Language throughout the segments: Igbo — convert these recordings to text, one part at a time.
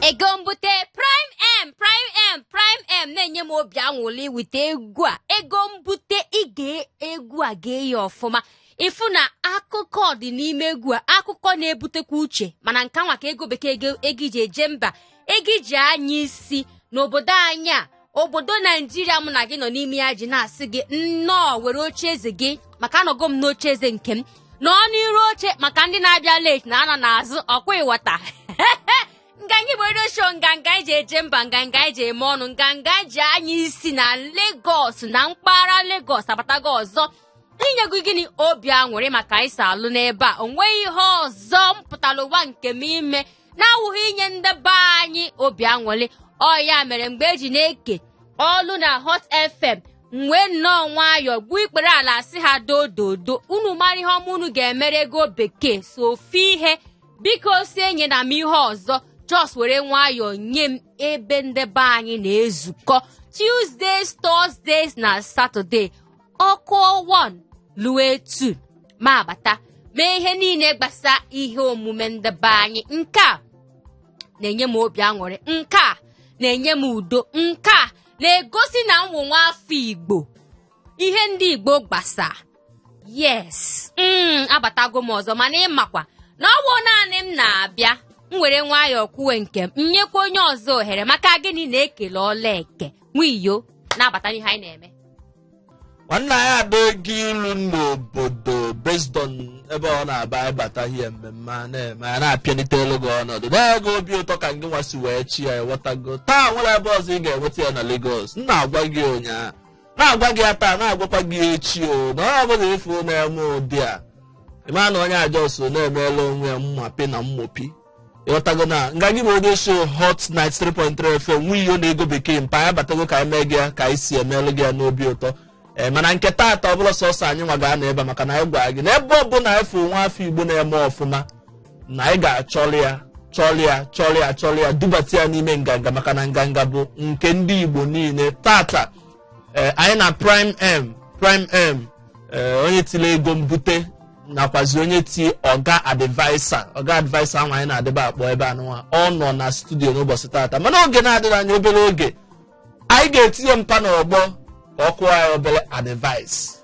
ego mbute prime m prime m prime m na-enye m obi anwụlị with egwu a ego mbute ige egwu a gee ya ọfụma ị fụ na akụkọ dị n'ime egwu a akụkọ na-ebutekwa uche mana nke nwa ka ego bekee ego iji eje mba ego iji anya isi n'obodo anyị a obodo naijiria mụ na gị nọ n'ime ya ji na-asị gị nnọọ were oche eze gị maka anọgo m n'oche eze nke m nọ n'iru oche maka ndị na-abịa late na-anọ n'azụ ọkwa ịwọta nganga igbo redio show nganga anyị ji eje mba nganga anyị ji eme ọnụ nganga anyị ji anya isi na Lagos na mpaghara Lagos abatago ọzọ inye gị gịnị obi aṅụrị maka anyị si alụ n'ebe a o nweghị ihe ọzọ m pụtara ụwa nke m ime na-awụghị inye ndị be anyị obi aṅụrị ọ ya mere mgbe eji na-eke ọlụ na hot fm m wee nnọọ nwayọọ gbuo ikpere ala sị ha dododo unu mara ihe ọma unu ga-emere ego bekee sọ ofu ihe bikozi enyena m ihe ọzọ just were nwayọọ nye m ebe ndị be anyị na-ezukọ tuesdays thursdays na saturday ọ kụọ 1 luo 2 m abata mee ihe niile gbasa ihe omume ndị be anyị nke a na-enye m obi aṅụrị nke a na-enye m udo nke a na-egosi na m wụ nwa afọ igbo ihe ndị igbo gbasa yes mm, abatago m ọzọ mana ị makwa na ọ bụ naanị m na-abịa m were nwayọọ kwuwe nke m nyekwa onye ọzọ ohere maka gịnị na ekele ọlụ eke nwa iyo na-abata n'ihe anyị na-eme nwanna ya ada ego ilu n'obodo based on ebe ọ na-aba ịbata ihe mmemme a na-eme a na-apịalite elu gị ọnọdụ na-ego obi ụtọ ka ngị nwasị wee chi ya ewetago taa nwere ebe ọzọ ị ga-enweta ya na Lagos m na-agwa gị ụnyaahụ na-agwa gị ya taa na-agwakwa gị echi onye ọ bụla ị fụ na-eme ụdị a ị ma na onye a just na-emela onwe ya mmapi na mmopi ịghọtago nganga igbo redio show hot 93.3 fm nwa iyo na ego bekee mpa ya batago ka anyị mee gị ya ka anyị si emelụ gị ya n'obi ụtọ ee mana nke taata ọ bụla sọsọ anyị nwa ga-anọ ebe a maka na anyị gwara gị na ebe ọ bụla anyị fụ nwa afọ igbo na-eme ọfụma na anyị ga-achọrọ ya chọrọ ya chọrọ ya chọrọ ya dubata ya n'ime nganga maka na nganga bụ nke ndị igbo niile taata ee anyị na prime m prime m ee onye tiri ego mbute nakwazi onye ti ọga adviser ọga adviser ahụ anyị na-adịba akpọ ebe anụnwa ọ nọ na studio n'ụbọchị taata mana oge na-adịghị anya obere oge anyị ga-etinye mpa n'ọgbọ ka ọ kụọ anyị obere advice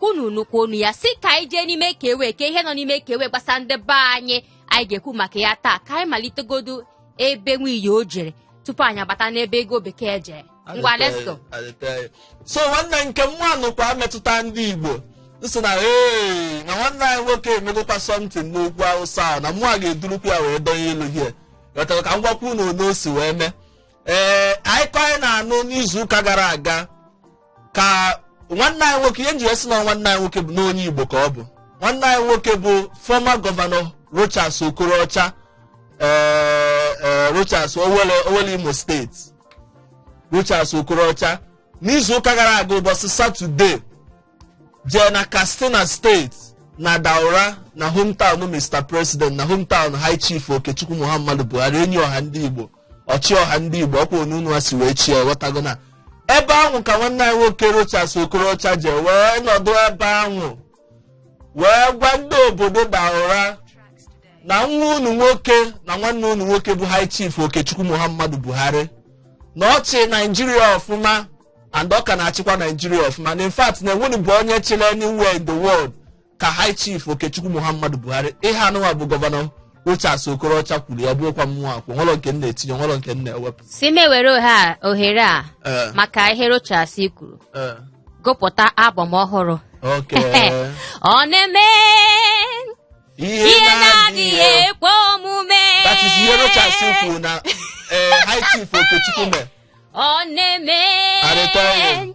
unu nụkwa onu ya sị ka anyị jee n'ime ka ewe ka ihe nọ n'ime ka ewe gbasa ndị be anyị anyị ga-ekwu maka ya taa ka anyị malitegodu ebe nwiyi o jere tupu anyị agbata n'ebe ego bekee jee ngwa let's go so nwanne nke nwanụkwa metụta ndị igbo m sị na ee na nwanne anyị nwoke emegokwa something n'ugwu awụsa ahụ na mụ a ga-edurukwu ya wee donye elu ị ghọtara ka m gwakwa unu na o si wee mee ee akụkọ anyị na-anụ n'izu ụka gara aga ka nwanne anyị nwoke ihe m jiri sị na nwanne anyị nwoke bụ na onye igbo ka ọ bụ nwanne anyị nwoke bụ former governor rochas okorocha ee ee rochas owelle owelle imo steeti rochas okorocha n'izu ụka gara aga ụbọchị satọde jee na katsina steeti na daura na hometown mr president na hometown high chief okechukwu muhammadu buhari enyi ọha ndị igbo ọchịọha ndị igbo ọkwa onye unu a si wee chie ghọtago na ebe ahụ ka nwanne anyị nwoke rochas okorocha jee wee nọdụ ebe ahụ wee gwa ndị obodo daura na nwa unu nwoke na nwanne unu nwoke bụ high chief okechukwu muhammadu buhari na ọ chị naijiria ọfụma and ọ ka na-achịkwa naijiria ọfụma na in fact na enwenube onye chịrị anywhere in the world ka high chief okechukwu muhammadu buhari ihe a nụnwa bụ gọvanọ rochas okorocha kwuru ya bụrụkwa mụwa kwu nwere nke m na-etinye nwere nke m na-ewepụ sị m were ohe a- ohere a Eh, maka ihe rochas kwuru eh, gụpụta album ọhụrụ okay. ọ na-eme ihe na-adịghị ekwe omume that is ihe rochas kwuru na eh, high chief okechukwu mere ọ na-eme Arịta ọrụ.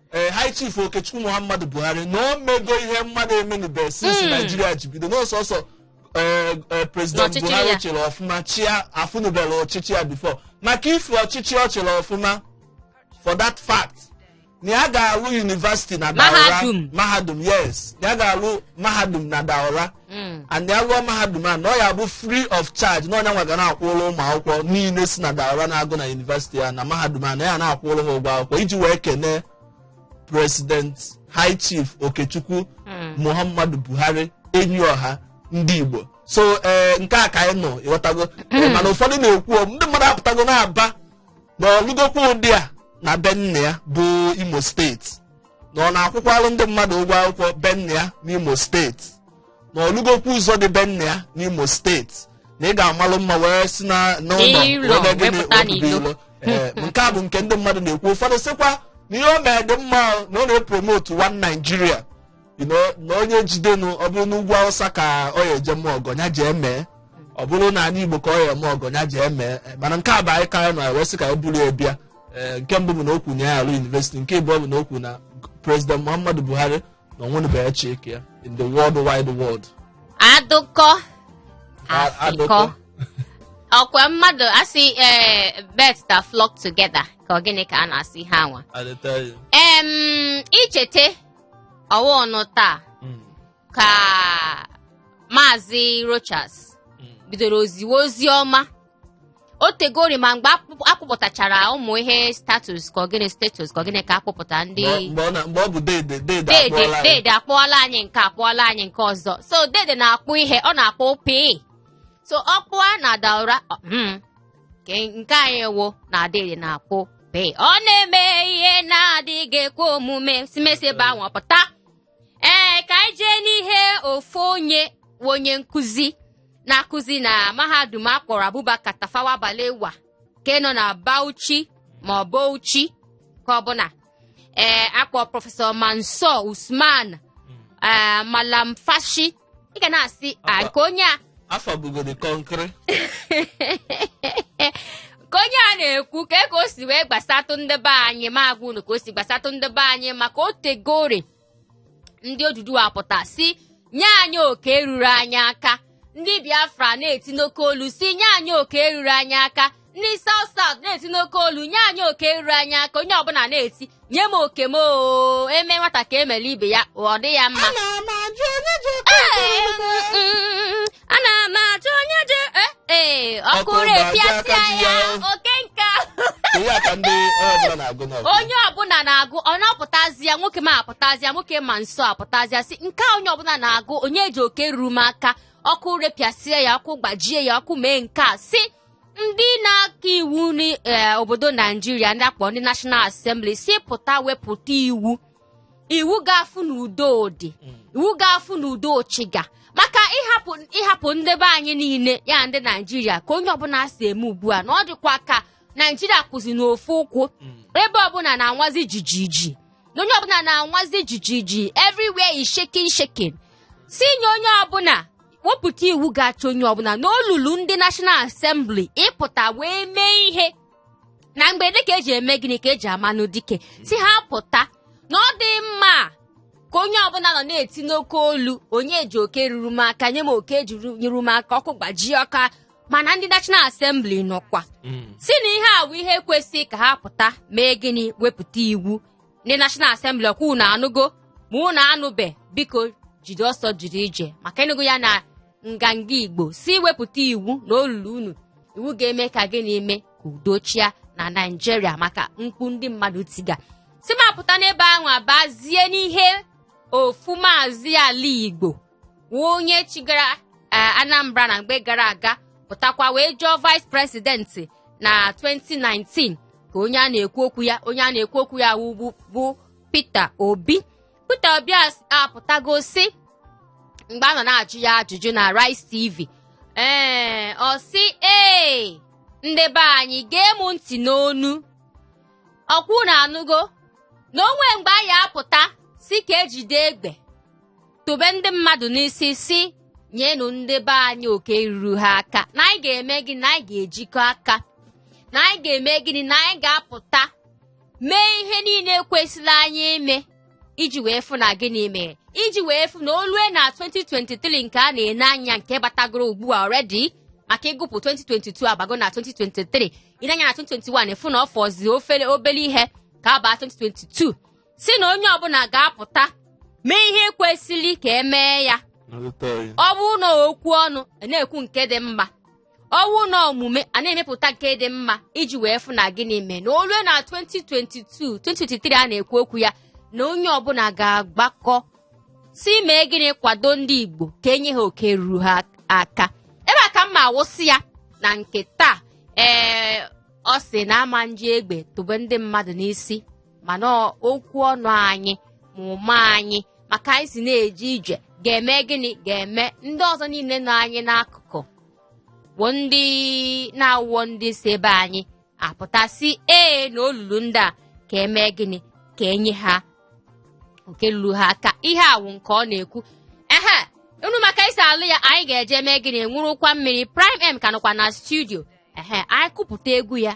ee high chief okechukwu muhammadu buhari na o mego ihe mmadụ emenube since naijiria ji bido na ọ sọsọ ee, ee, president N'ọchịchị buhari ya. chịrị ọfụma chịa afụnubere ọchịchị ya before maka ife ọchịchị ọ chịrị ọfụma for that fact na ya ga-alụ university na Daura Mahadum. mahadum yes na ya ga-alụ mahadum na daura Mm. and ya lụọ mahadum a na ọ ya bụ free of charge na ọ ya nwa ga na-akwụrụ ụmụ akwụkwọ niile si na daura na-agụ na university ya na mahadum a na ya na-akwụrụ ha ụgwọ akwụkwọ iji wee kene president high chief okechukwu Mm. muhammadu buhari enyi ọha ndị igbo so ee nke a ka anyị nụ ị ghọtago Ee, mana ụfọdụ na-ekwu o, ndị mmadụ apụtago na-aba na ọ lụgokwa ụdị a na be nna ya bụ imo steeti na ọ na-akwụkwalụ ndị mmadụ ụgwọ akwụkwọ be nna ya n'imo steeti na ọ lụgokwu ụzọ dị be nna ya n'imo steeti na ị ga-amalụ mma wee si na n'ụlọ N'ilo, wee gịnị wee pụta wee pụta n'ilo. ilo. Ee, nke a bụ nke ndị mmadụ na-ekwu ụfọdụ sịkwa na ihe o mere dị mma o, na ọ na-epromote one Nigeria You know, na onye jidenu ọ bụrụ n'ugwu awụsa ka ọ ya eje mee ọgọ ya jee mee ọ bụrụ n'anị igbo ka ọ ya eme ọgọ ya jee mee mana nke a bụ akụkọ anyị nụ wee sị ka anyị buru ya bịa ee nke mbụ bụ na o kwu na ya arụ yunivesiti nke ịbụọ bụ na o kwu na prezident muhammadu buhari na o nwenubeghị chike ya in the whole wide world adụkọ A- afịkọ ọkwa mmadụ asị ee birds that flock together ka ọ gịnị ka a na-asị ha nwa I dey tell you. em ichete ọwa ọnụ taa Mm, ka maazị rochas mm. bidoro oziwe ozi ọma o tegori ma mgbe akpụ- akpụpụtachara ụmụ ihe statues ka ọ gịnị statues ka ọ gịnị ka akpụpụta ndị Mgbe- mgbe ọ na- mgbe ọ bụ dede dede dede akpụọla anyị. dede akpụọla anyị nke a akpụọla anyị nke ọzọ so dede na-akpụ ihe ọ na-akpụ pii so ọ kpụa na daura ọ- mm, nke nke anyị wụ na dede na-akpụ pii ọ na-eme ihe na-adịghị ekwe omume simesebe anwụ pụta ee ka anyị jee n'ihe ofu onye onye nkụzi na-akụzi na mahadum a kpọrọ Abubakar Tafawa Balewa nke nọ na Bauchi ma ọ Bauchi ka ọ bụ na ee akpọ prọfesọ Mansur Usman ee Malumfashi ị ga na-asị a ka onye a afọ bugoro kọnkịrị ka onye a na-ekwu ka e ka o si wee gbasatụ ndị be anyị m agwa unu ka o si gbasatụ ndị be anyị maka o tegori ndị Oduduwa pụta sị nye anyị oke ruru anyị aka ndị biafra na-eti n'oke olu sị nye anyị oke ruru anyị aka ndị South South na-eti n'oke olu nye anyị oke ruru anyị aka onye ọbụla na-eti nye m oke m oo eme nwata ka emere ibe ya ọ dị ya mma ana m ajụ onye ji oke Ee, ego ego. mm, ana m ajụ onye ji eh, eh, ọkụ Ọkụ repịasịa aka ji ya ya. oke nka ihe a ka ndị onye ọbụla na-agụ n'ọkụ onye ọbụla na-agụ ọ na-apụtazịa nwoke m apụtazịa nwoke Mansur apụtazịa sị nke a onye ọbụla na-agụ onye ji oke ruru m aka ọkụ repịasịa ya ọkụ gbajie ya ọkụ mee nke a si ndị na-aka iwu n'obodo naijiria ndị akpọ ndị National Assembly sị pụta wepụta iwu iwu ga-afụ na udo dị iwu ga-afụ na udo chịga maka ịhapụ ịhapụ ndị be anyị niile ya ndị naijiria ka onye ọbụla si eme ugbu a na ọ dịkwa ka naijiria kwụzi n'ofu ụkwụ ebe ọbụla na-anwazi jijiji na onye ọbụla na-anwazi jijiji everywhere is shaking shaking si nye onye ọbụla wepụta iwu ga-achị onye ọbụla na o lulu ndị National Assembly ịpụta wee mee ihe na mberede ka eji eme gịnị ka eji amanụ dike sị ha pụta na ọ dị mma ka onye ọbụla nọ na-eti n'oke olu onye ji oke ruru m aka nye m oke ji ruru m aka ọkụ gbajie aka mana ndị National Assembly nọkwa sị na ihe a bụ ihe kwesị ka ha pụta mee gịnị wepụta iwu ndị National Assembly ọkwa unu anụgo ma unu anụbe biko jiri ọsọ jiri ije maka ị nụgo ya na nganga Igbo sị wepụta iwu na o lulu unu iwu ga-eme ka gịnị mee ka udo chịa na Naịjirịa maka mkpu ndị mmadụ tiga sị m apụta n'ebe ahụ abazie n'ihe ofu maazị ala Igbo wụ onye chịgara eh, Anambra na mgbe gara aga pụtakwa wee zọọ vice president na 2019 ka onye a na-ekwu okwu ya onye a na-ekwu okwu ya wụ bụ- bụ Peter Obi Peter Obi as- apụtago sị mgbe a nọ na-ajụ ya ajụjụ na Arise TV ee ọ sị ee ndị be anyị gee m ntị n'ọnụ ọkwa unu anụgo na o nwe mgbe anyị apụta sị ka e jide egbe tụbe ndị mmadụ n'isi sị nyenụ ndị be anyị oke ruru ha aka na anyị ga-eme gịnị na anyị ga-ejikọ aka na anyị ga-eme gịnị na anyị ga-apụta mee ihe niile kwesịrị anyị ime iji wee fụ na gịnị mere iji wee fụ na o lue na 2023 nke a na-ene anya nke batagoro ugbu a already maka ị gụpụ 2022 abago na 2023 i nee anya na 2021 ị fụ na ọ fọzi ofele obele ihe ka a baa 2022 sị na onye ọbụla ga-apụta mee ihe kwesịrị ka emee ya ọ bụrụ na okwu ọnụ na-ekwu nke dị mma ọ bụrụ na omume a na-emepụta nke dị mma iji wee fụ na gịnị mee na o lue na 2022 2023 a na-ekwu okwu ya na onye ọbụla ga-agbakọ sị mee gịnị kwado ndị Igbo ka enye ha oke ruru ha aka ebe a ka m ma awụsị ya na nke taa ee ọ sị na a ma eji egbe tụbe ndị mmadụ n'isi mana okwu ọnụ anyị ma omume anyị ma ka anyị si na-eje ije ga-eme gịnị ga-eme ndị ọzọ niile nọ anyị n'akụkụ bụ ndị na-awụọ ndị si be anyị apụta sị ee na o lulu ndị a ka emee gịnị ka enye ha oke lulu ha aka ihe a wụ nke ọ na-ekwu ehe unu ma ka e si alụ ya anyị ga-eje mee gịnị ṅụrụkwa mmiri Prime M ka nọkwa na studio ehe anyị kụpụta egwu ya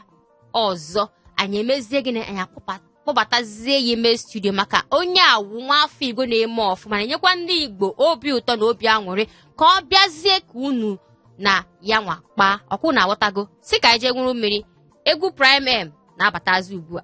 ọzọ anyị emezie gịnị anyị akpọpa- kpọbatazie ya ime studio maka onye a wụ nwa afọ igbo na-eme ọfụma na-enyekwa ndị igbo obi ụtọ na obi aṅụrị ka ọ bịazie ka unu na ya nwa kpaa ọkwa unu aghọtago sị ka anyị jee ṅụrụ mmiri egwu Prime M na-abatazi ugbu a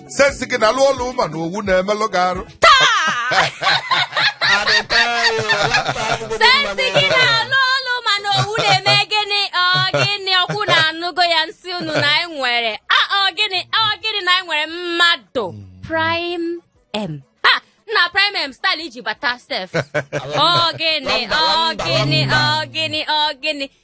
sense gị na-alụ ọlụ mana owu na-emelụ gị arụ sense gị na-alụ ọlụ mana owu na-eme gịnị ọ gịnị ọkwa unu anụgo ya m sị unu na anyị nwere a ọ gịnị ọ gịnị na anyị nwere mmadụ prime m ha nna prime m style iji bata sef ọ gịnị ọ gịnị ọ gịnị ọ gịnị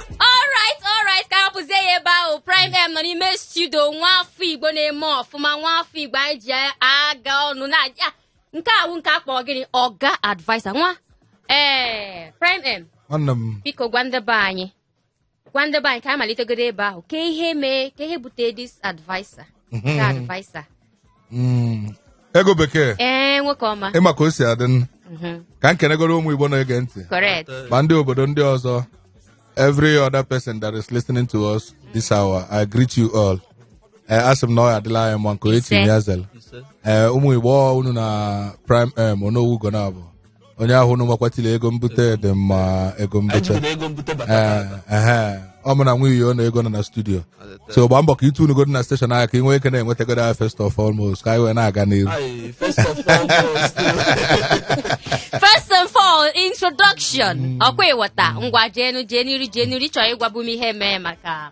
alright alright ka hapụzie ya ebe ahụ prime m nọ n'ime studio nwa afọ igbo na-eme ọfụma nwa afọ igbo anyị ji aga ọnụ na ya nke a wụ nke a kpọ gịnị ọga adviser nwa ee prime m nwanne m biko gwa ndị be anyị gwa ndị be anyị ka anyị malitegoro ebe ahụ ka ihe mee ka ihe bute this adviser ka adviser Mm. ego bekee ee nwoke ọma ịma ka o si adị nụ. Mhm. ka m kenegoro ụmụ igbo na-ege ntị correct ma ndị obodo ndị ọzọ every other person that is listening to us this hour i greet you all Eh, asị m na ọ ya-adịlị anyị mma nke onye Ise. tinye ya zere Ise. Eh, ụmụ igbo ọ unu na prime m onowu ugonabo onye ahụ unu makwa tili ego mbute dị mma ego mbute ejibere ego mbute bata Ee, ehe. ọ mụ na nwunye ya ọ na ego nọ na studio so gbaa mbọ ka ị tunuugodi na station ahụ ka ị nwee ike na-enwetagodo ya first of almost ka anyị wee na-aga n'iru Aye, first of all, first. First and all, introduction. Ọkwa ịghọta ngwa jeenu jeeniri jeeniri chọọ ịgwabu m ihe mee maka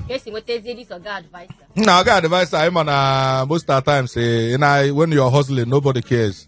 ka esi nwetazie this ọga adviser. na ọga adviser anyị ma na most of the times eh, ị na- when you're hustling nobody cares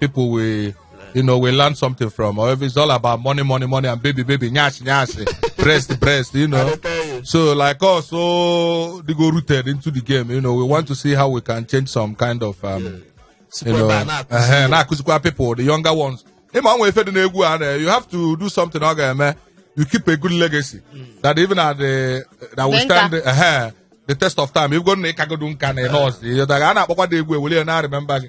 people will you know we learn something from or if it's all about money money money and baby baby nyash nyash breast breast you know so like us so they go rooted into the game you know we want to see how we can change some kind of um you Sikwa know ebe a na-akụzi ehe, na-akụzikwa people the younger ones ịma nwe ife dị n'egwu a na- you have to do something ọ ga-eme you keep a good legacy that even at the that will Dị nka. stand ehe, the test of time ịbụgo na ịkagodo nka na ịnọs a na-akpọkwa dị egwu eweli ya na remember gị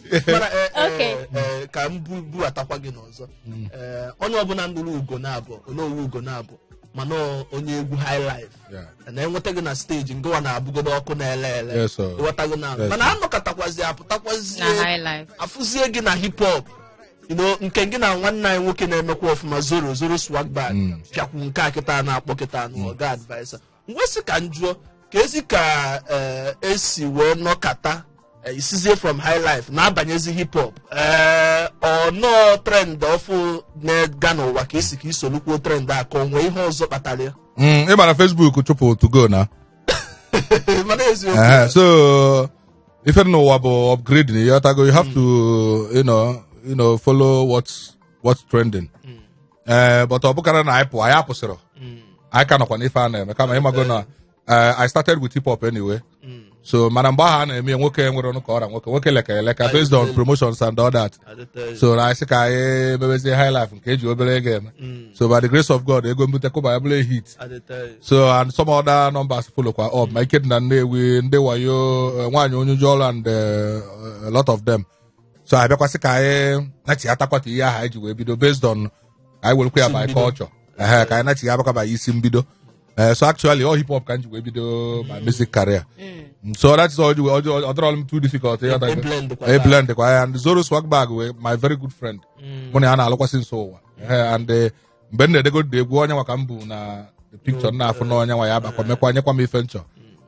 Mana, eh, eh, Okay. eh, ka m bu- buatakwa gị n'ọzọ Eh, onye ọbụla nụrụ ugonabo onowu ugonabo ma na ọ onye egwu high life Yeah. na enweta gị na stage ngwa na-abụgodo ọkụ na-ele ele Yes, sir. ghọta gị na Yes, mana sir. anọkọtakwazi na apụtakwazie high life afụzie gị na hip hop you know, nke gị na nwanne anyị nwoke na-emekwa ọfụma zoro zoro swag bag pịakwu nke a kịta a na-akpọ kịta anụ ọga adviser m wee sị ka m jụọ ka ezi ka eh, esi wee nọkata eh, i sizie from high life na-abanyezi hip hop Eh, ọ na ọ trend ọfụụ na-ega n'ụwa ka ị sị ka i solukwuo trend a ka o nwee ihe ọzọ kpatara ya Mm, ị ma na Facebook chụpụ 2go na mana eziokwu Ehe, so ife dị n'ụwa bụ upgrading you have to you know you know follow what's what's trending ee but ọ bụkarọ na anyị pụọ anyị apụsịrọ Mm, anyị ka nọkwa n'ife a na-eme kama ịmago na eh, I started with hip hop anyway mm. so mana mgbe ahụ a na-eme ya, nwoke nwere ọnụ ka ọ ra nwoke nwoke leka eleka based on promotions and all that Adịtọghị. so na anyị sị ka anyị mebezie high life nke eji obere ego eme Mm, so by the grace of God ego mbute kụba ya bụrụ a hit adịtọghị. so and some other numbers follow kwa up ma ike dị na Nnewi ndị wayo eh, nwaanyị onye ụjọ ọrụ and eh, a lot of them so abịakwasị ka anyị nachitakwa ka ihe ahụ anyị ji wee bido based on ka anyị werekwa ya Isi by mbido. culture ehe ka anyị nachigha back by isi mbido Eh, so actually ọ hip hop ka m ji wee bido my music career Mm, so that is all the way ọ ọ- ọ dịrọla m too difficult ịghọta E- e gị. blend kwa E taa. blend kwa ya and Zoro Swagbag bụ my very good friend mụ na ya na-alụkwasị nso ụwa Eh, and eh, mgbe m na-edegode egwu onye nwa ka m bu na the picture m na-afụ na onye nwa ya bakwa mekwa nyekwa m ife m chọ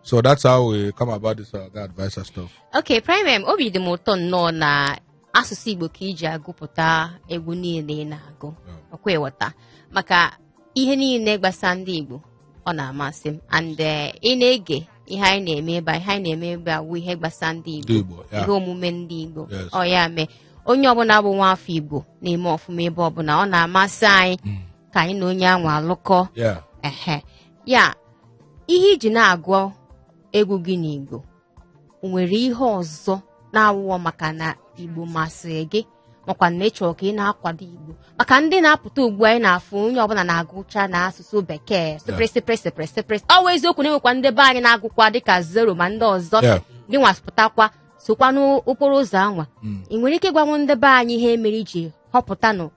so that's how we come about this uh, advisor stuff Okay, Prime M, obi dị m ụtọ nnọọ na asụsụ Igbo ka i ji agụpụta egwu niile ị na-agụ. Ọkwa ị ghọta. Maka ihe niile gbasa ndị Igbo ọ na-amasị m and eh, ị na-ege ihe anyị na-eme ebe a, ihe anyị na-eme ebe a wụ ihe gbasa ndị Ndị Igbo Igbo, ya. ihe omume ndị Igbo Yes. ọ ya mee onye ọbụla bụ nwa afọ Igbo na-eme ọfụma ebe ọbụla ọ na-amasị anyị ka anyị na onye anwa alụkọ Yeah. ehe ya ihe i ji na-agụ egwu gị n'Igbo o nwere ihe ọzọ na-awụọ maka na igbo masịrị gị makwa na ị chọrọ ka ị na-akwado igbo maka ndị na-apụta ugbu a anyị na-afụ onye ọbụla na-agụcha na asụsụ bekee sụpịrị sụpịrị sụpịrị sụpịrị ọ wụ eziokwu na e nwekwa ndị be anyị na-agụkwa dịka Zoro ma ndị ọzọ Yeah. gị nwa pụtakwa sokwa n'okporo ụzọ anwa ị nwere ike ịgwanwu ndị be anyị ihe mere i ji họpụtanụ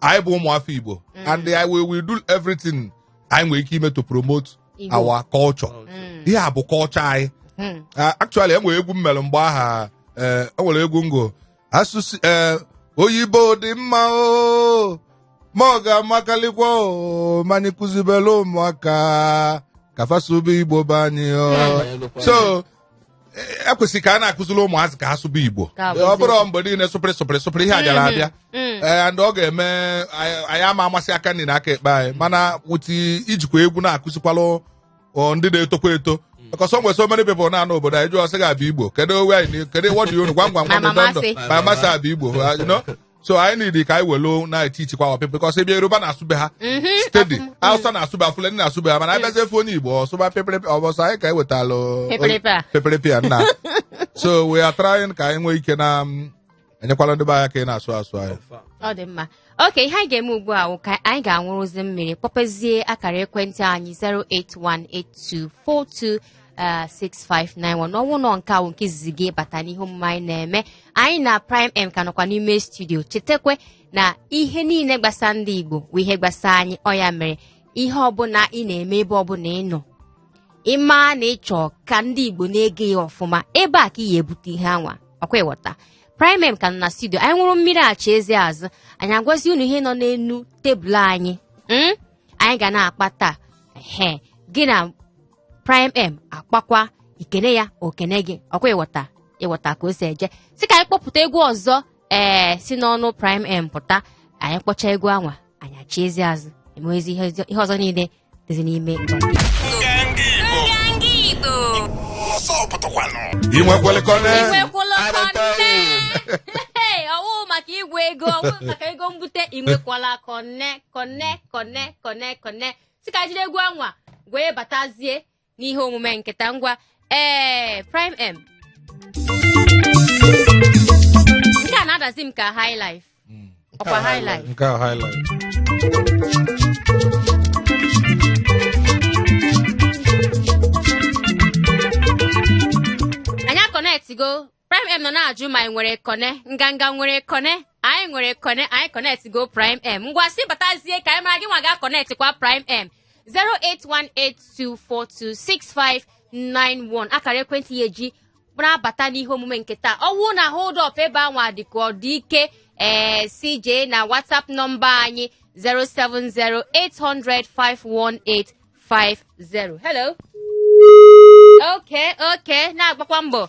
anyị bụ ụmụ afọ igbo and I will, will do everything anyị nwere ike ime to promote Igbo. our culture ihe a bụ culture anyị Mm. Ah, actually e nwere egwu m mere mgbe ahụ eh, o nwere egwu m gụ asụsụ eh, oyibo dị mma o ma ọ ga-amakalịkwa o ma anyị kụzibelụ ụmụaka ka fa sụba igbo be anyị o so e kwesị ka a na-akụziri ụmụazị ka ha sụba igbo Ka abụzi. ọ bụrọ mgbe niile sụpịrị sụpịrị sụpịrị ihe a bịara abịa Mm. and ọ ga-eme anyị anyị ama amazi aka nri na aka ekpe anyị mana wụti ijikwa egwu na-akụzikwalụ ọ, ndị na-etokwa eto because o nwere so many people na-anọ obodo anyị jụọ sị ga-abịa igbo kedu owe anyị na- kedu what do you know? gwam gwam gwam Mama ndụ ndụ Masị. ma masị abịa igbo you know? so anyị need ka anyị welu na-etichikwa our people because ebe yoruba na-asụ be ha Mhm. steady Afụ- hausa na-asụ be ha fulani na-asụ be ha mana anyị bịazie efe onye igbo ọ sụba peperepe ọ bụ sọ anyị ka anyị wetalụ Peperepe a. peperepe a nna so we are trying ka anyị nwee ike na mm, enyekwala ndị be anyị ka ị na-asụ asụsụ anyị ọ dị mma okay ihe anyị ga-eme ugbu a wụ ka anyị ga-anwụrụzi mmiri kpọpezie akara ekwentị anyị 0818242 6591 n'ọnwụ nọ nke awụ nke izizi gị bata n'ihe omume anyị na-eme anyị na Prime M ka nọkwa n'ime studio chetakwe na ihe niile gbasa ndị igbo bụ ihe gbasa anyị ọ ya mere ihe ọbụla ị na-eme ebe ọbụla ị nọ ị ma na ị chọ ka ndị igbo na-ege ya ọfụma ebe a ka ị ya-ebute ihe anwa ọkwa ị ghọta Prime M ka nọ na studio anyị nwụrụ mmiri achị ezi azụ anyị agwazi unu ihe nọ n'elu tebụl anyị mm? anyị ga na-akpa taa ehe gị na prime m akpakwa i kene ya o kene gị ọkwa ịghọta ịghọta ka o si eje si ka anyị kpọpụta egwu ọzọ ee si n'ọnụ prime m pụta anyị kpọcha egwu anwa anyị achiezi azụ emewezi ihe ọzọ- ihe ọzọ niile dịzi n'ime nganga Igbo. ị nwekwere kọne Inwekwala kọnne. Hey, ọ wụ maka igwe ego ọ wụ maka ego mbute inwekwala kọnne kọnne kọnne kọnne kọnne si ka jiri egwu anwa wee batazie n'ihe omume nke taa ngwa ee prime m nke a na-adazi m ka high life ọkwa high life nke a high life anyị akọnetgo Prime M nọ na-ajụ ma anyị nwere kọne nganga nwere kọne anyị nwere kọne anyị kọnetị go Prime M ngwa si batazie ka anyị mara gị nwa ga kọnetị kwa Prime M 08182426591 akara ekwentị ị ya-eji na-abata n'ihe omume nke taa ọ wụ na hold up ebe anwa dị ka ọ dị ike ee CJ na WhatsApp nọmba anyị 07080051850 hello okay okay na-agbakwa mbọ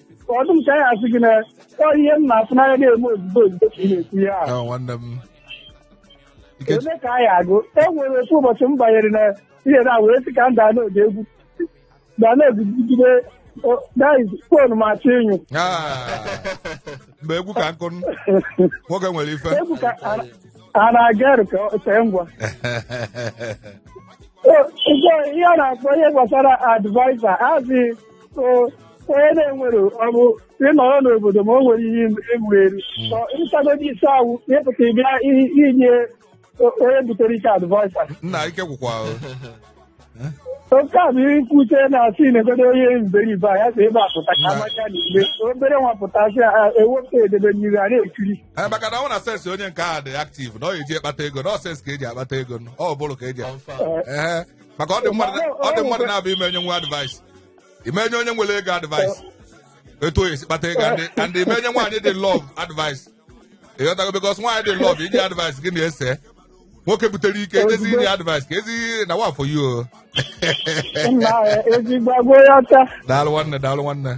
ka ọ dị m ka anyị asị gị na ọ ihe m na-afụ n'anya na-eme ozugbo ozugbo ka ị na-ekwu ya ahụ. Ahụ nwanne m Ike- ole ka anyị agụ e nwere otu ụbọchị m banyere na ihe na wee sị ka m daa n'oge egwu daa n'oge jide fon ma achọ ịnyụ Ah, mgbe egwu ka nkụ nwoke nwere ife egwu ka a- a na-aga eru ka ọ tee ngwa O, nke ihe a na-akpọ ihe gbasara advaisa azị So, onye na-enwere ọ bụ ịnọrọ n'obodo ma o nwere ihe egwu eri Ọ ị sagodi isi awụ ịpụta ịbịa i- inye o- onye butere ike advice nna ike gwụkwa o. oke a bụ ihe nkwute na-asị na-egodo onye mberibe a ya si ebe a pụta ka amanya na igbe obere nwa pụtasị a ewepụ edebe mmiri a na-ekiri Ee, maka na ọ na sense onye nke a dị active na ọ ya e ji akpata ego na ọ sense ka e ji akpata ego ọ bụrụ ka eji Confirm. Ee. maka ọ dị mmadụ na- ọ dị mmadụ naabọ ị ma enyenwu advice ị ma enye onye nwere ego advice etu ọ ya-esi kpata ego and- and ị ma enye nwaanyị dị love advice ịghọtago because nwaanyị dị love inye advice gị na-ese nwoke butere ike ezi inye advice ka ezi na wa for you o. nna ya ezigbo agwa ya ọcha daalụ nwanne daalụ nwanne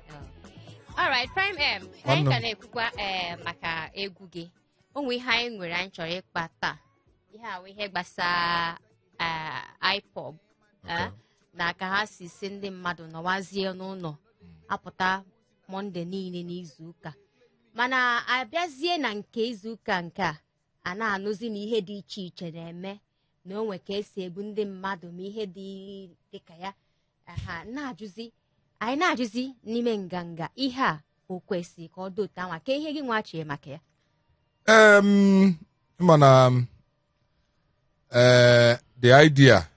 alright prime m ka anyị Nwanne m. ka na-ekwukwa eh, maka egwu gị o nwe ihe anyị nwere anyị chọrọ ịkpa taa ihe a wụ ihe gbasara eh, IPOB eh, na ka ha si sị ndị mmadụ nọwazie n'ụlọ apụta Monday niile n'izu ụka mana a bịazie na nke izu ụka nke a a na-anụzi na ihe dị iche iche na-eme na o nwe ka esi egbu ndị mmadụ ma ihe dị dịka ya aha na-ajụzi anyị na-ajụzi n'ime nganga ihe a o kwesịrị ka ọ dị otu anwa kee ihe gị nwa chee maka ya Em, mana m, eh, the idea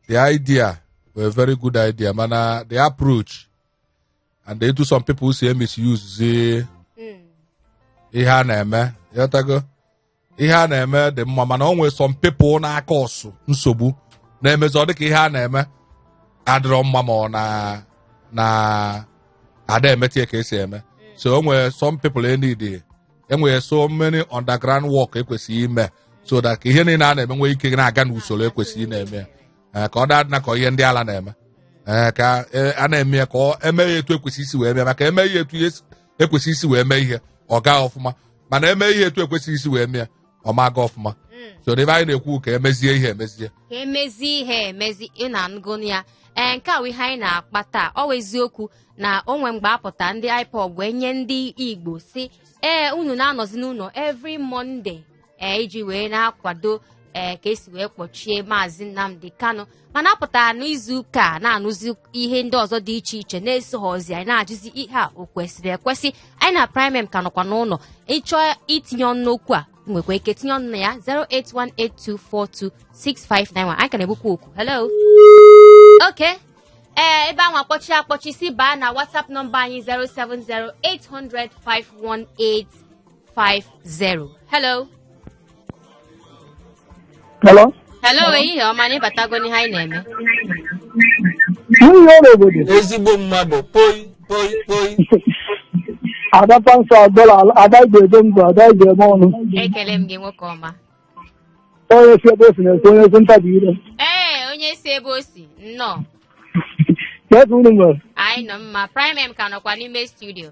the idea wụ a very good idea mana the approach and etu some people si misuse zi ihe a na-eme ịghọtago ihe a na-eme dị mma mana o nwere some people na-acause nsogbu na-emezi ọ dịka ihe a na-eme adịrọ mma ma ọ na na ada emetie ka esi eme so o nwere some people enidi enwere so many underground work ekwesịrị ime so that ka ihe niile a na-eme nwee ike na-aga n'usoro ekwesịrị na-eme ya Eh, ka ọ da adịna ka ihe ndị ala na-eme Eh, ka eh, a na-eme ya ka ọ eme ya etu ekwesị isi wee mee maka eme ihe etu ya esi- ekwesịrị isi wee mee ihe ọ gaa ọfụma mana eme ihe etu ekwesịghị isi wee mee ya ọ ma aga ọfụma so n'ebe anyị na-ekwu ka emezie ihe emezie ka emezi ihe emezi ị na-anụgo ya ee nke a wụ ihe anyị na-akpa taa ọ wụ eziokwu na o nwee mgbe apụta ndị IPOB wee nye ndị Igbo sị ee unu na-anọzi n'ụlọ every Monday ee iji wee na-akwado ee ka esi wee kpọchie maazị Nnamdi Kanu mana apụtara n'izu ụka a na-anụzi ihe ndị ọzọ dị iche iche na-esoghọzi anyị na-ajụzi ihe a o kwesịrị ekwesị anyị na Prime M ka nọkwa n'ụlọ ị chọọ itinye ọnụ n'okwu a nwekwa ike tinye ọnụ na ya 08182426591 anyị ka na-egbukwa oku hello okay ee ebe anwa kpọchie akpọchi si baa na whatsapp nọmba anyị 070800518 50. Hello. Hello? Hello, ehihie ọma na ị batago n'ihe anyị na-eme. Nwunye ọrụ obodo. ezigbo mmadụ poi poi poi Ada Pansa Agbala, Ada Igbo Edo Mba, Ada Igbo Eme Ọnụ. Ekele m gị nwoke ọma. Onye si ebe o si na-ekwu onye si ntabi ire. Ee, onye si ebe o si, nnọọ. Kee etu unu mere. Anyị nọ mma. Prime M ka nọkwa n'ime studio.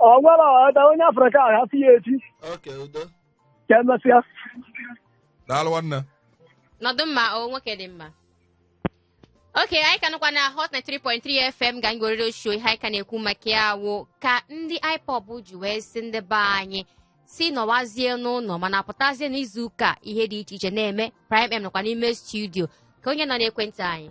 ọ nwere ọda onye afrịka a hafụ ya echi okay udo ka emesịa daalụ nwanne nọdụ mma o nwoke dị mma okay anyị ka nọkwa na hot 93.3 fm ga anyị werere show ihe anyị ka na-ekwu maka ya wụ ka ndị ipob ji wee sị ndị be anyị sị nọwazie n'ụlọ mana pụtazie n'izu ụka ihe dị iche iche na-eme prime m nọkwa n'ime studio kee onye nọ n'ekwentị anyị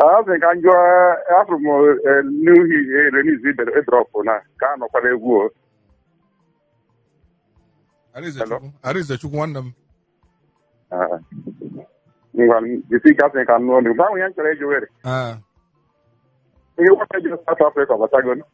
Asị ka m jụọ afụrụ m new hit release ibere ịdrọpụ na ka a nụkwara egwu o. Arinze Chukwu, Arinze Chukwu nwanne m. Ah. Ngwa jisi ka asị ka m nụọ n'igwe. Ahụ ya m chọrọ ịjụ were. Ah, Ihe nwoke ji South Africa batago.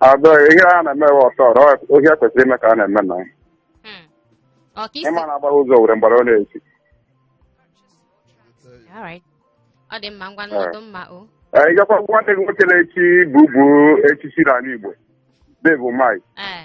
Ada ihe a na-eme wa ọtọ ọrụ ohi a kwesịrị ime ka a na-eme na Hmm. Ọ ka isi. ịma na agbaghị ụzọ owere mgbara ọ na-echi All right. Ọ dị mma ngwa nọdụ mma o. Ee, ị gwakwa nwanne gị nwoke na-echi bubu echichi n'ala Igbo Dave Umahi Eh.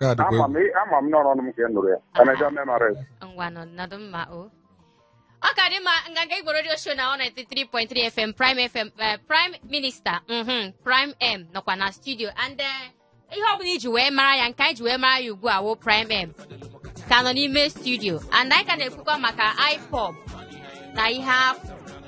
Nke a dịkwa ama egwu. m ama m n'ọnụ m ka ị nụrụ ya ka na jọọ memories ngwanụ nọdụ mma o ọ ka dị mma nganga igbo radio show na Hot 93.3 fm prime fm eh, prime minister mhm, prime m nọkwa na studio and eh, ihe ọ bụla iji wee mara ya nke anyị ji wee mara ya ugbu a wụ prime m ka nọ n'ime studio and anyị ka na-ekwukwa maka ipob na ihe afọ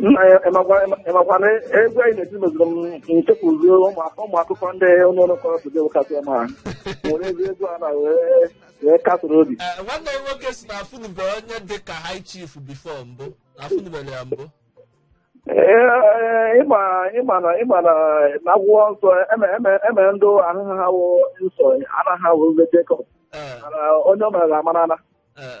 nna ya ịmakwa na egwu anyị na-eti meziri m chefuzie ụmụ akụkọ ndị ụlọ ọrụ kọrọ today kasị ọma ha werezie egwu a na wee wee kasịrị obi Eh, nwanne m nwoke sị na afụnube onye dị ka high chief before mbụ na afụnubere ya mbụ Ee, ịma ịma na ịma na n'akwụkwọ nsọ eme eme eme ndị aha ha wụ Ịsọ anaghị awụ ndị Jekọb Eh, mana onye ọ mere amarana eh,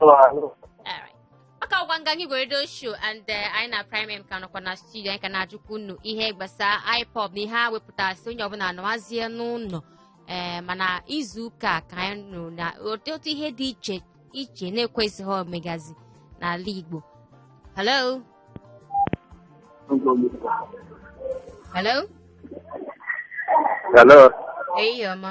Alright. Ọ ka wụkwa nganga igbo radio show and eh, anyị na prime m ka nọkwa na studio anyị ka na-ajụkwa unu ihe gbasara ipob na ihe a wepụtara sị onye ọbụla nọwazie n'ụlọ ee mana izu ụka a ka anyị nụrụ na otu otu ihe dị iche iche na-ekwesịghị omegazi n'ala Igbo hello hello Hello. ehihie ọma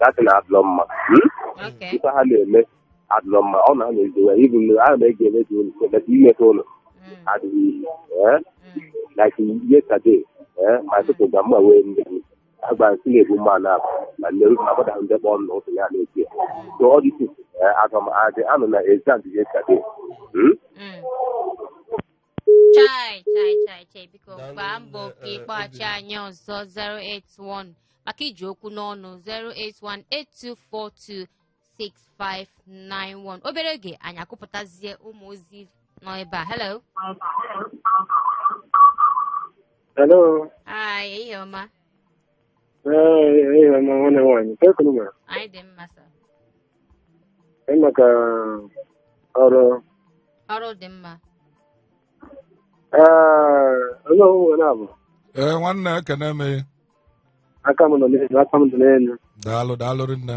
that na adịrọ mma Hmm? Okay. ife ha na-eme adịrọ mma ọ na ha na-ezo ya ibu na a na-ege eme dị ụlọ ebe imepe ụlọ Mm, adịghị iyi ee mm. like yesterday eh, my people ga mma wee ndị agba nsị na-ebu mma na na nneru na agbada ndị kpọọ nna ụtụ ya na-eti ya so all this sit at home adị anọ na exam yesterday Hmm? Mm. chai chai chai chai biko Daalụ gbaa mbọ nne, ka eh, ịkpọghachi Obinna. anyị ọzọ 081 maka i ji okwu n'ọnụ 08182426591 obere oge anyị akụpụtazie ụmụ ozi nọ ebe a hello Hello. hi ehihie ọma Ee, ehihie ọma nwanne nwaanyị kee ka unu mere anyị dị mma sa Ee, maka ọrụ ọrụ dị mma ee onye ọhụrụ nwere abụ ee nwanne ekene m aka m nọ n'elu aka m dị n'elu daalụ daalụ rinne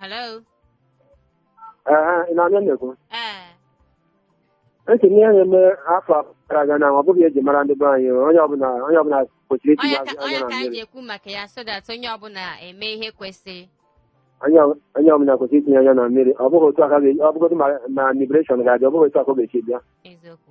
Hello? Ee, ị na-anụ ihe m na-ekwu. Ee. M sị na ihe na-eme afọ abụọ gara aga na ọ bụghị eji mara ndị be anyị onye ọbụla onye ọbụla kwesịrị itinye Onye ka anya onye na ka anyị ji mmiri. ekwu maka ya so that onye ọbụla eme ihe kwesịrị. Onye ọ- onye ọbụla kwesịrị itinye anya na mmiri. Ọ bụghị otu aka ga- ọ bụgodị ma ma liberation ga-adị ọ bụghị otu aka ọ ga-esi bịa. Eziokwu.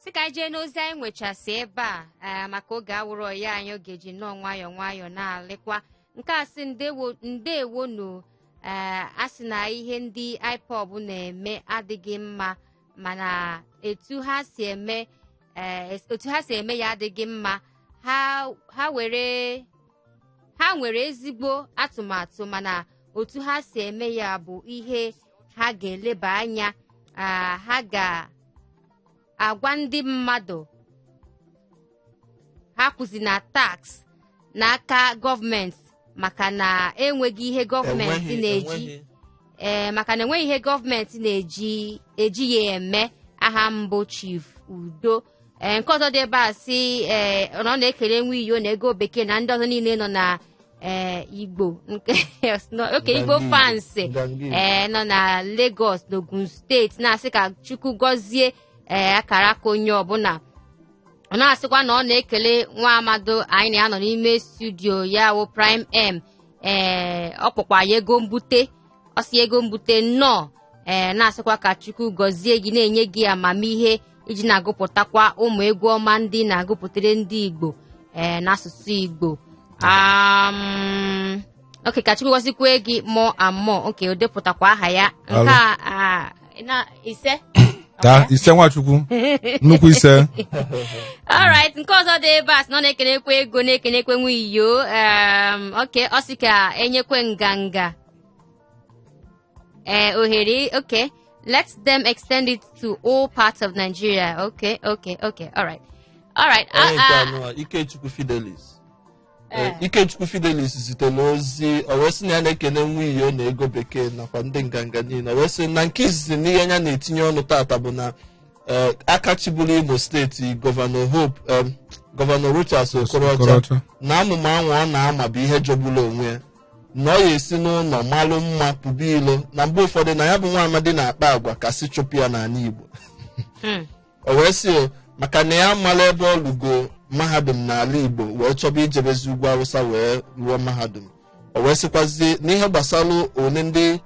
sị ka anyị jee n'ozi anyị nwechasị ebe a ee maka oge awụrọ ọyị anyị oge ji nnọọ nwayọọ nwayọọ na-alịkwa nke a sị ndewo ndewo nụ ee a sị na ihe ndị ipob na-eme adịghị mma mana etu ha si eme ee otu ha si eme ya adịghị mma ha ha were ha nwere ezigbo atụmatụ mana otu ha si eme ya bụ ihe ha ga-eleba anya ah, ha ga agwa ndị mmadụ ha akwụzina tax n'aka gọọmenti maka na enweghị ihe gọọmenti na-eji ee maka na enweghị ihe gọọmenti na-eji ya eme aha m bụ chief udo ee nke ọzọ dị ebe a sị ee ọ na ọ na-ekele nwa iyo na ego bekee na ndị ọzọ niile nọ na ee igbo nke nọ- oke igbo Nganga fans Igbo, Nganga Igbo. ee nọ na Lagos na Ogun steeti na-asị ka Chukwu gọzie ee akara aka onye ọbụna ọ na-asịkwa na ọ na-ekele nwa amadi anyị na ya nọ n'ime studio ya wụ prime m ee ọ kpọkwa ya ego mbute ọ sị ego mbute nnọọ ee na-asịkwa ka chukwu gọzie gị na-enye gị amamihe i ji na-agụpụtakwa ụmụ egwu ọma ndị na-agụpụtara ndị igbo ee n'asụsụ igbo um, oke ka chukwu gọzikwe gị mọ amọ oke o depụtakwa aha ya nke a ah, na ise taa ise nwachukwu nnukwu ise alright nke ọzọ dị ebe a sị na ọ na-ekenekwe ego na-ekenekwe nwa iyo um, oke ọ sị ka e nyekwe nganga ee eh, ohere okay let them extend it to all parts of Nigeria okay okay okay all right all right ah, ah. Ikechukwu Fidelis eh. Eh, Ikechukwu Fidelis zitere ozi o wee sị na ya na-ekene nwa iyo na ego bekee nakwa ndị nganga niine o wee sị na nke izizi n'ihe anyị na-etinye ọnụ tata bụ na aka chịburu Imo steeti gọvanọ Hope gọvanọ Rochas Okorocha na amụma anwụ ọ na-ama bụ ihe jọgburu onwe ya na ọ ya-esi n'ụnọ malụ mma pụba ilo na mgbe ụfọdụ na ya bụ nwa amadi na-akpa agwa ka a sị chụpụ ya n'ala igbo Hmm. o wee sị o maka na ya amalọ ebe ọ lụgo mahadum n'ala igbo wee chọba ijebezi ugwu awụsa wee rụọ mahadum o wee sịkwazi n'ihe gbasara one ndị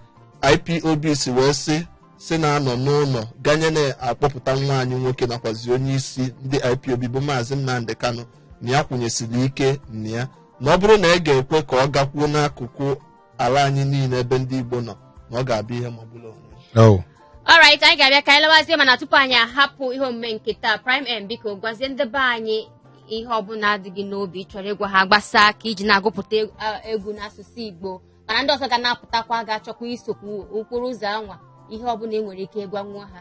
ipob si wee sị si na-anọ n'ụnọ ganye na a kpọpụta nwa anyị nwoke nakwazi onye isi ndị ipob bụ maazị nnamdị kanu na ya kwụnyesiri ike na ya na ọ bụrụ na e ga-ekwe ka ọ gakwuo n'akụkụ ala anyị niile ebe ndị Igbo nọ na ọ ga-abụ ihe magbulu onwe ya. Oh. alright anyị ga-abịa ka anyị lawazie mana tupu anyị ahapụ ihe omume nke taa prime m biko gwazie ndị be anyị ihe ọbụna dị gị n'obi ị chọrọ ịgwa ha gbasaa aka i ji na-agụpụta eg- a- egwu n'asụsụ igbo mana ndị ọzọ ga na-apụtakwa ga-achọkwa isokwu okporo ụzọ anwa ihe ọbụna ị nwere ike ịgwanwu ha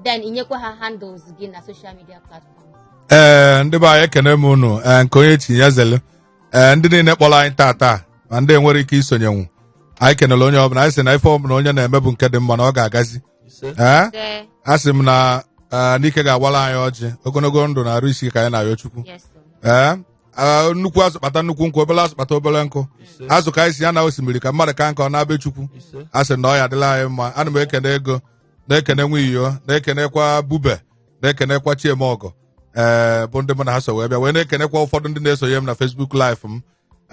then inyekwa ha handles gị na social media platforms ee ndị be anyị ekene m unu ee nke onye chi ya zelu ee ndị niile kpọrọ anyị tata ma ndị enwerọ ike isonyenwu anyị kenere onye ọbụla anyị sị na ife ọbụla onye na-eme bụ nke dị mma na ọ ga-agazi ee Ee, a sị m na ee, n'ị ka ga-agọlụ anyị ọjị ogologo ndụ na arụ isi ike ka anyị na-ayọ chukwu yes sir. ee a, nnukwu azụ kpata nnukwu nkụ obere azụ kpata obere nkụ azụ ka anyị si ya na osimiri ka mmadụ ka nkọ na be chukwu a sị na ọ ya-adịlị anyị mma ana m ekene Ego na-ekene Nwiyo na-ekenekwa Ebube na-ekenekwa Chiemọgọ ee bụ ndị mụ na ha so wee bịa wee na-ekenekwa ụfọdụ ndị na-esonye m na Facebook live m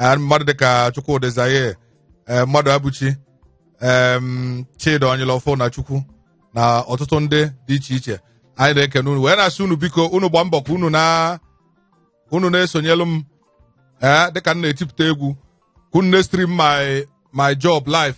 Ee, mmadụ dịka Chukwudị Zaye ee mmadụ Abuchi em Chidi Onyelọfọ na Chukwu na ọtụtụ ndị dị iche iche anyị na-ekene unu wee na-asị unu biko unu gbaa mbọ ka unu na unu na-esonyelu m ee dịka m na-etipụta egwu ka unu na-stream my my job live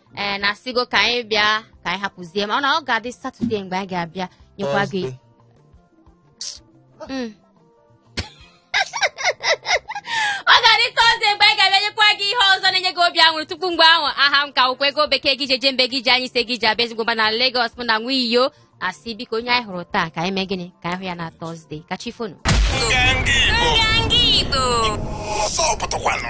ee na asịgo ka anyị bịa ka anyị hapụzie ma ọ na ọ ga-adị satọde mgbe anyị ga-abịa nyekwa gị Thursday. Mm. ọ ga-adị tọzde mgbe anyị ga-abịa nyekwa gị ihe ọzọ na-enye gị obi aṅụrị tupu mgbe ahụ aha m ka wụkwa Ego Bekee ego e ji eje mba ego e ji anya isi ego e ji abịa ezigbo mba na Lagos mụ na Nwiyo asị biko onye anyị hụrụ taa ka anyị mee gịnị ka anyị hụ ya na tọzde ka chi fonu Nganga Igbo. Nganga Igbo. Ọsọ pụtakwanụ.